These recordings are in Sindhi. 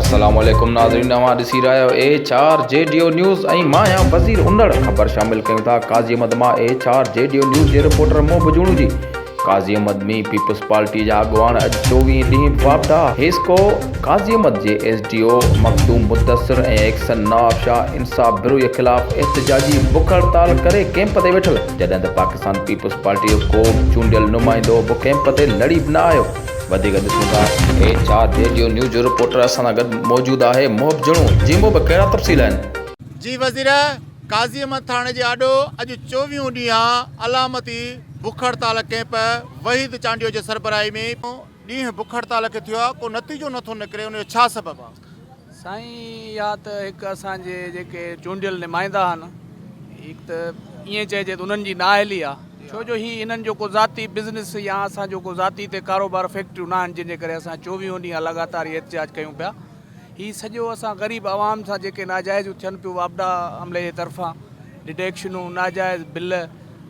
السلام عليڪم ناظرين اوهان ڏسي رهيا آهيو H R G D O news ۽ مان آهيان وزير انڙ خبر شامل ڪيون ٿا قاضي احمد مان H R G D O news جي رپورٽر مون بجوڻو جي قاضي احمد مير پيپلز پارٽي جا اڳواڻ اڄ چوويهه ڏينهن باپڊا حيسڪو قاضي احمد جي S D O Makhdoom Mudassar ۽ XEN Nawab Shah Insaf Brohi خلاف احتجاجي بک هڙتال ڪري ڪيمپ تي ويٺل جڏهن ته پاڪستان پيپلز پارٽي جو ڪو به چونڊيل نمائندو به ڪيمپ تي لڙي به نه آيو وڌيڪ ڏسون ٿا اهي ڇا ريڊيو نيوز جو رپورٽر اسان سان گڏ موجود آهي محب جھڻو جي محب ڪهڙا تفصيل آهن. جي وزير قاضي احمد ٿاڻي جي آڏو اڄ چوويهون ڏينهن علامتي بک هڙتال ڪئمپ وحيد چانڊيو جي سربراهي ۾ ڏينهن بک هڙتال کي ٿيو آهي ڪو نتيجو نٿو نڪري ان جو ڇا سبب آهي؟ سائين اها ته هڪ اسان جي جيڪي چونڊيل نمائندا آهن هڪ ته ائين چئجي ته انهن جي نااهلي آهي ڇو جو هي انهن جو ڪو ذاتي بزنس يا اسان جو ڪو ذاتي هتي ڪاروبار فيڪٽريون ناهن جن جي ڪري اسان چوويهون ڏينهن لڳاتار هي احتجاج ڪيون پيا هي سڄو اسان غريب عوام سان جيڪي ناجائزيون ٿين پيون واپڊا عملي جي طرفان ڊڊيڪشنون ناجائز بل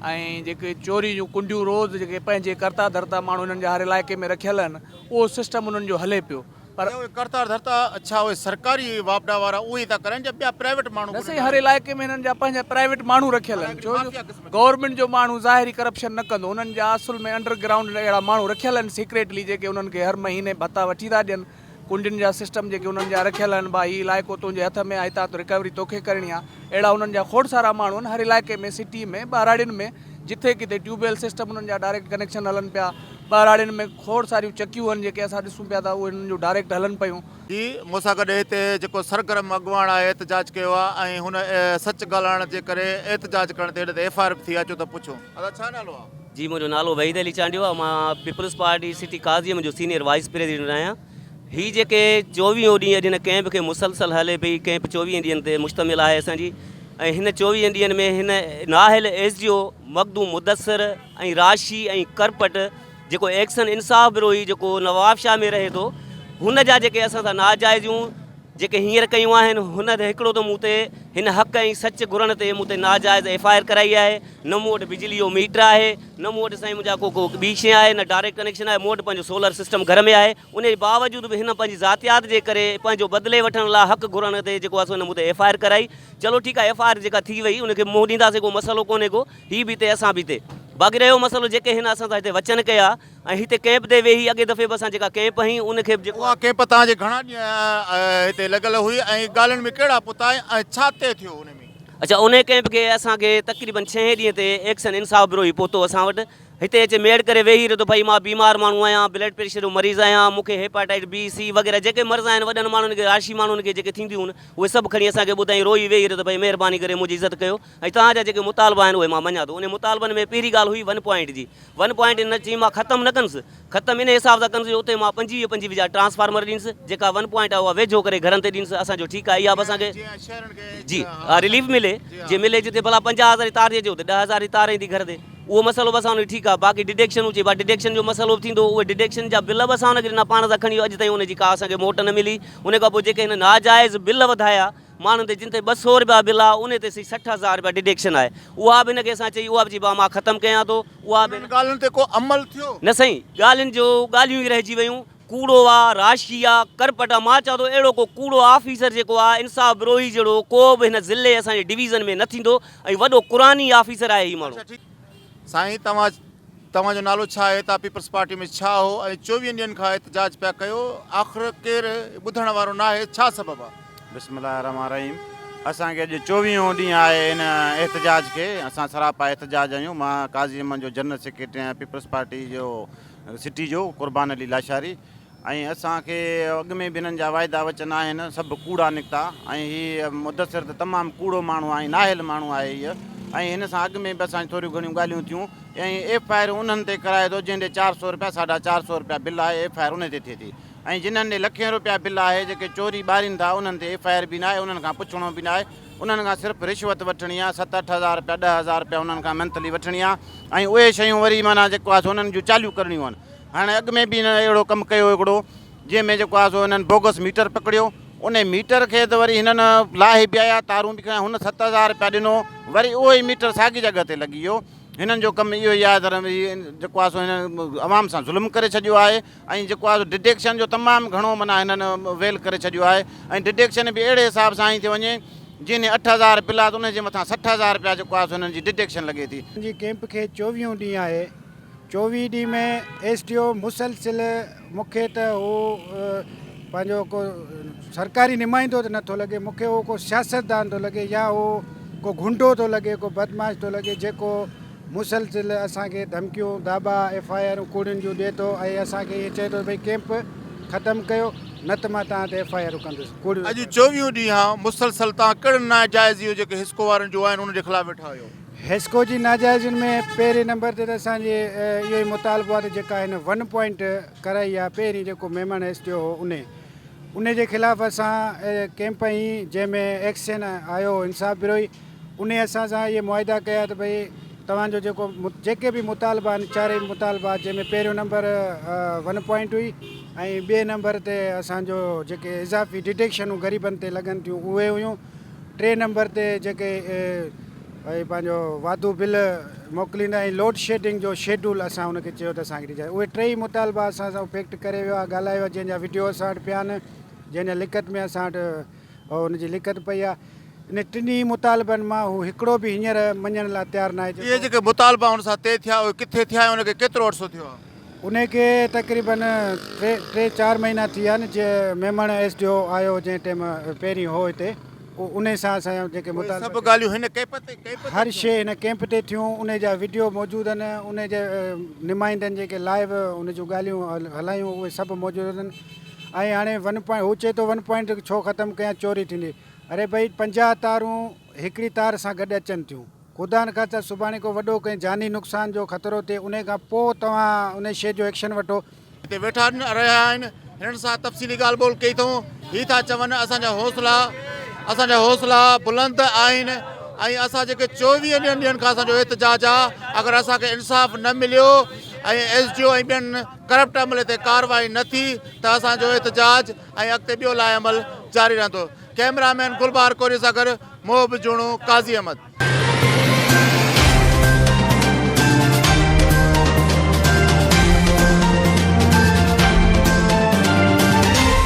۽ جيڪي چوري جون ڪنڊيون روز جيڪي پنهنجي ڪرتا ڌرتا ماڻهو هنن جا هر علائقي ۾ رکيل آهن اهو سسٽم انهن جو هلي پيو پر اهي ڪرتا ڌرتا ڇا اهي سرڪاري واپڊا وارا اهي ٿا ڪرائين جا ٻيا پرائيويٽ ماڻهو نه سائين هر علائقي ۾ هنن جا پنهنجا پرائيويٽ ماڻهو رکيل آهن ڇو جو گورنمينٽ جو ماڻهو ظاهري ڪرپشن نه ڪندو انهن جا اصل ۾ انڊر گرائونڊ اهڙا ماڻهو رکيل آهن سيڪريٽلي جيڪي انهن کي هر مهيني ڀتا وٺي ٿا ڏين ڪنڊين جا سسٽم جيڪي انهن جا رکيل آهن ڀا هي علائقو تنهنجي هٿ ۾ آ هتان تون رڪوري توکي ڪرڻي آ اهڙا انهن جا کوڙ سارا ماڻهو آهن هر علائقي ۾ سٽي ۾ ٻهراڙين ۾ جٿي ڪٿي ٽيوب ويل سسٽم انهن جا ڊائريڪٽ ڪنيڪشن هلن پيا ٻهراڙين ۾ کوڙ ساريون چڪيون آهن جيڪي اسان ڏسون پيا ته اهي انهن جون ڊائريڪٽ هلن پيون. جي مون سان گڏ هتي جيڪو سرگرم اڳواڻ آهي احتجاج ڪيو آ ۽ هن سچ ڳالهائڻ جي ڪري احتجاج ڪرڻ تي هن تي ايف آء آر به ٿي آ اچو ته پڇون. ادا ڇا نالو آ. جي منهنجو نالو وحيد علي چانڊيو آهي مان پيپلز پارٽي سٽي ڪازيم جو سينيئر وائيس پريزيڊنٽ آهيان هي جيڪي چوويهون ڏينهن اڄ هن ڪئمپ کي مسلسل هلي پئي ڪئمپ چوويهن ڏينهن تي مشتمل آهي اسان جي ۽ هن چوويهن ڏينهن ۾ هن نااهل ايس جي او مخدوم مدثر ۽ راشي ۽ کرپٽ جيڪو ايڪشن انصاف بروهي جيڪو نوابشاهه ۾ رهي ٿو هن جا جيڪي اسان سان ناجائزيون جيڪي هينئر ڪيون آهن هن هٿ هڪڙو ته مون تي هن حق ۽ سچ گهرڻ تي مون تي ناجائز ايف آء آر ڪرائي آهي نه مون وٽ بجلي جو ميٽر آهي نه مون وٽ سائين منهنجا ڪو ڪو ٻي شي آهي نه ڊائريڪٽ ڪنيڪشن آهي مون وٽ پنهنجو سولر سسٽم گهر ۾ آهي ان جي باوجود به هن پنهنجي ذاتيات جي ڪري پنهنجو بدلي وٺڻ لاء حق گهرڻ تي جيڪو آهي سو هن مون تي ايف آء آر ڪرائي چلو ٺيڪ آهي ايف آء آر جيڪا ٿي وئي ان کي منهن ڏينداسين ڪو مسئلو ڪونهي ڪو هي به هتي اسان به هتي باقي رهيو مسئلو جيڪي هن اسان سان هتي وچن ڪيا ۽ هتي ڪئمپ تي ويهي اڳئين دفعي به اسان جيڪا ڪئمپ هنئي ان کي به. اها ڪئمپ توهان جي گهڻا ڏينهن هتي لڳل هئي ۽ ڳالهين ۾ ڪهڙا پتا ۽ ڇا طئي ٿيو ان ۾؟ اچا انهي ڪئمپ کي اسان کي تقريبن ڇهين ڏينهن تي ايڪشن انصاف برو هي پهتو اسان وٽ هتي اچي ميڙ ڪري ويهي رهيو ته ڀئي مان بيمار ماڻهو آهيان بلڊ پريشر جو مريض آهيان مون کي هيپاٽائٽ بي سي وغيره جيڪي مرض آهن وڏن ماڻهن کي راشي ماڻهن کي جيڪي ٿينديون هن اهي سڀ کڻي اسان کي ٻڌائين روئي ويهي رهيو ته ڀئي مهرباني ڪري منهنجي عزت ڪيو ۽ توهان جا جيڪي مطالبا آهن اهي مان مڃان ٿو. انهن مطالبن ۾ پهرين ڳالهه هئي ون پوائنٽ جي. ون پوائنٽ ان چيم مان ختم نه ڪندس. ختم ان حساب سان ڪندس جو اتي مان پنجويهه پنجويهه جا ٽرانسفارمر ڏينس. جيڪا ون پوائنٽ آهي اها ويجهو ڪري گهرن تي ڏينس. اسان چيو ٺيڪ آهي اها به اسان کي جي اها رليف ملي. جي ملي جتي ڀلا پنجاهه هزار جي تار ٿي اچي اتي ڏهه هزار جي تار ايندي گهر تي. اهو مسئلو به اسان ان کي ٺيڪ آهي. باقي ڊڊيڪشنون چئبا ڊڊيڪشن جو مسئلو به ٿيندو. اهي ڊڊيڪشن جا بل به اسان ان کي ڏنا پاڻ سان کڻي ويو. اڄ تائين ان جي ڪا اسان کي موٽ نه ملي. ان کان پوء جيڪي هن ناجائز بل وڌايا. ماڻهن تي جن تي ٻه سئو رپيا بل آ انهي تي سهي سٺ هزار رپيا ڊڊيڪشن آهي اها به هن کي اسان چئي اها به چئي ڀاء مان ختم ڪيان ٿو اها به انهن ڳالهين تي ڪو عمل ٿيو؟ نه سائين ڳالهين جو ڳالهيون ئي رهجي ويون ڪوڙو آ راشي آ ڪرپٽ آ مان چئان ٿو اهڙو ڪو ڪوڙو آفيسر جيڪو آ انصاف بروهي جهڙو ڪو به هن ضلعي اسان جي ڊويزن ۾ نه ٿيندو ۽ وڏو قرآني آفيسر آهي هي ماڻهو. سائين توهان توهان جو نالو ڇا آهي تان پيپلز پارٽي ۾ ڇا هو ۽ چوويهن ڏينهن کان احتجاج پيا ڪيو آخر ڪير ٻڌڻ وارو ناهي ڇا سبب آ. بسم الله الرحمٰن الرحيم اسان کي اڄ چوويهون ڏينهن آهي ان احتجاج کي اسان سراپا احتجاج آهيون مان قاضي احمد جو جنرل سيڪريٽري آهيان پيپلز پارٽي جو سٽي جو قربان علي لاشاري ۽ اسان کي اڳ ۾ به هنن جا واعدا وچن آهن سڀ ڪوڙا نڪتا ۽ هي مدثر ته تمام ڪوڙو ماڻهو آهي نااهل ماڻهو آهي هيء ۽ هن سان اڳ ۾ به اسان جون ٿوريون گهڻيون ڳالهيون ٿيون ۽ ايف آء آر انهن تي ڪرائي ٿو جنهن ڏي چار سؤ رپيا ساڍا چار سؤ رپيا بل آهي ايف آء آر انهي تي ٿئي ٿي ۽ جنهن ڏي لکين رپيا بل آهي جيڪي چوري ٻارين ٿا انهن تي ايف آء آر به ناهي انهن کان پڇڻو به ناهي انهن کان صرف رشوت وٺڻي آهي ست اٺ هزار رپيا ڏهه هزار رپيا انهن کان منٿلي وٺڻي آهي ۽ اهي شيون وري معنيٰ جيڪو آهي سو انهن جون چاليون ڪرڻيون آهن هن اڳ ۾ به هن اهڙو ڪم ڪيو هڪڙو جنهن ۾ جيڪو آهي سو هنن بوگس ميٽر پڪڙيو ان ميٽر کي ته وري هنن لاهي به آيا تارون به کڻيا هن ست هزار رپيا ڏنو وري اهو ئي ميٽر ساڳي جڳهه تي لڳي ويو هنن جو ڪم اهو ئي آهي ته جيڪو آهي سو هنن عوام سان ظلم ڪري ڇڏيو آهي ۽ جيڪو آهي ڊڊيڪشن جو تمام گهڻو معنيٰ هنن ويل ڪري ڇڏيو آهي ۽ ڊڊيڪشن به اهڙي حساب سان هنئي ٿي وڃي جنهن اٺ هزار بل آهي ته ان جي مٿان سٺ هزار رپيا جيڪو آهي سو هنن جي ڊڊيڪشن لڳي ٿي. جي ڪيمپ کي چوويهون ڏينهن آهي چوويهه ڊي ۾ ايس ڊي او مسلسل مون کي ته هو پنهنجو ڪو سرڪاري نمائندو ته نٿو لڳي مون کي هو ڪو سياستدان ٿو لڳي يا هو ڪو گهنڊو ٿو لڳي ڪو بدماش ٿو لڳي جيڪو مسلسل اسانکي ڌمڪيون داٻا ايف آء آرون ڪوڙين جون ڏي ٿو ۽ اسانکي ائين چئي ٿو ڀئي ڪيمپ ختم ڪيو نه ته مان توهان تي ايف آء آرون کندس ڪوڙيون اڄ چوويهون ڏينهن مسلسل توهان ڪهڙن ناجائزيون جيڪي حسڪو وارن جون آهن انهن جي خلاف ويٺا هيو حيسڪو جي ناجائزين ۾ پهرين نمبر تي ته اسان جي اهو ئي مطالبو آهي ته جيڪا هن ون پوائنٽ ڪرائي آهي پهرين جيڪو ميمڻ ايس ٽي او هو انهي انهي جي خلاف اسان ڪيمپ هنئي جنهن ۾ ايڪسين آيو هو انصاف بروهي انهي اسان سان اهي معاهدا ڪيا ته ڀئي توهان جو جيڪو جيڪي به مطالبا آهن چارئي مطالبا جنهن ۾ پهريون نمبر ون پوائنٽ هئي ۽ ٻئي نمبر تي اسان جو جيڪي اضافي ڊڊيڪشنون غريبن تي لڳن ٿيون اهي هيون ٽئين نمبر تي جيڪي اهي پنهنجو واڌو بل موڪليندا ۽ لوڊ شيڊنگ جو شيڊول اسان ان کي چيو ته اسان کي ڏجائي اهي ٽئي مطالبا اسان سان فيڪٽ ڪري ويو آهي ڳالهايو آهي جنهن جا وڊيو اسان وٽ پيا آهن جنهن جا لکت ۾ اسان وٽ ان جي لکت پئي آهي ان ٽنهي مطالبن مان هو هڪڙو به هينئر مڃڻ لاء تيار ناهي اهي جيڪي مطالبا هن سان طئي ٿيا اهي ڪٿي ٿيا ۽ ان کي ڪيترو عرصو ٿيو آهي انهي کي تقريبن ٽي ٽي چار مهينا ٿي ويا آهن جي ميمڻ ايس ڊي او آيو جنهن ٽيم پهرين هو هتي انهي سان اسان جا جيڪي اهي سڀ ڳالهيون هن ڪيپ تي ڪيپ تي هر شي هن ڪيمپ تي ٿيون انهي جا وڊيو موجود آهن انهي جي نمائندن جيڪي لائيو ان جون ڳالهيون هلايون اهي سڀ موجود آهن ۽ هاڻي ون پوائنٽ هو چئي ٿو ون پوائنٽ ڇو ختم ڪيا چوري ٿيندي اري ڀئي پنجاهه تارون هڪڙي تار سان گڏ اچن ٿيون. خدا نخواسته سڀاڻي ڪو وڏو ڪنهن جاني نقصان جو خطرو ٿئي انهي کان پوء توهان انهي شيء جو ايڪشن وٺو. هتي ويٺا رهيا آهن هنن سان تفصيلي ڳالهه ٻولهه ڪئي اٿئون هي ٿا چون اسان جا حوصلا اسان جا حوصلا بلند آهن ۽ اسان جيڪي چوويهه ڏينهن ڏينهن کان اسان جو احتجاج آ اگر اسان کي انصاف نه مليو ۽ ايس ڊي او ۽ ٻين ڪرپٽ عملي تي ڪارروائي نه ٿي ته اسان جو احتجاج ۽ اڳتي ٻيو لاء عمل جاري رهندو. ڪئميرا مين گلبهار ڪوري سان گڏ محب جوڻو، قاضي احمد.